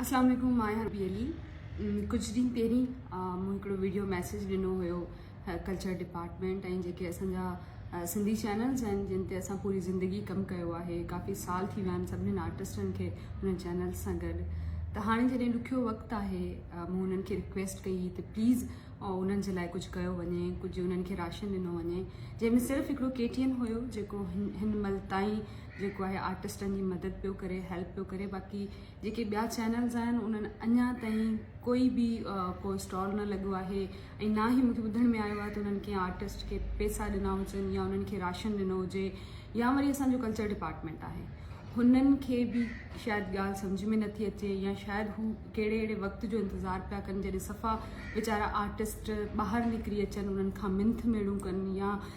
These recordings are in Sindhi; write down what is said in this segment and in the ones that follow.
السلام عليڪم ماء حبي علي ڪجهه ڏينهن پهرين مون هڪڙو ويڊيو ميسج ڏنو هيو ڪلچر ڊپارٽمنٽ ۽ جيڪي اسان جا سنڌي چينلز آهن جن تي اسان پوري زندگي ڪم ڪيو آهي ڪافي سال ٿي ويا آهن سڀني آرٽسٽن کي هن چينل سان گڏ ته هاڻي جڏهن ڏکيو وقت آهي مون انهن کي رڪويسٽ ڪئي ته پليز انهن جي لاء ڪجهه ڪيو وڃي ڪجهه انهن کي راشن ڏنو وڃي جنهن ۾ صرف هڪڙو ڪي ٽي اين هيو جيڪو هن مل تائين جيڪو آهي آرٽسٽن جي مدد پيو ڪري هيلپ پيو ڪري باقي جيڪي ٻيا چينلز آهن انهن اڃا تائين ڪوئي به ڪو اسٽال نه لڳو آهي ۽ نه ئي مونکي ٻڌڻ ۾ آيو آهي ته انهن ڪنهن آرٽسٽ کي پيسا ڏنا هجن يا انهن کي راشن ڏنو هجي يا وري اسان جو ڪلچر ڊپارٽمنٽ آهي هنن کي به شايد ڳالهه سمجھ ۾ نٿي اچي يا شايد هو ڪهڙي اهڙي وقت جو انتظار پيا ڪن جڏهن صفا ويچارا آرٽسٽ ٻاهر نڪري اچن انهن کان منٿ ميڙون ڪن يا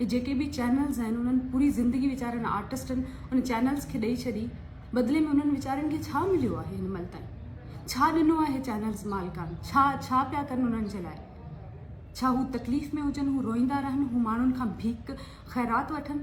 هي جيڪي به چينلز آهن انهن پوري زندگي ويچارن آرٽسٽن ان چينلز کي ڏئي ڇڏي بدلي ۾ انهن ويچارن کي ڇا مليو آهي هن مهل تائين ڇا ڏنو آهي چينلز مالڪان ڇا ڇا پيا ڪن انهن جي لاء ڇا هو تڪليف ۾ هجن هو روئيندا رهن هو ماڻهن کان ڀيڪ خيرات وٺن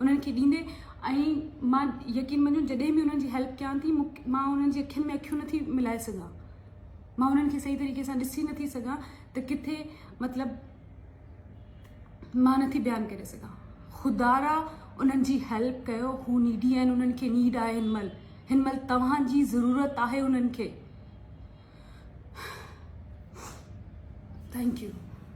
انهن کي ڏيندي ۽ مان يقين مڃو جڏهن به انهن جي هيلپ ڪيان ٿي مان انهن جي اکين ۾ اکيون نٿي ملائي سگهان مان انهن کي صحيح طريقي سان ڏسي نٿي سگهان ته ڪٿي مطلب مان نٿي بيان ڪري سگهان خدارا انهن جي هيلپ ڪيو هو نيڊي آهن انهن کي نيڊ آهي هن مهل هن مهل توهان جي ضرورت آهي انهن کي ٿينڪ يو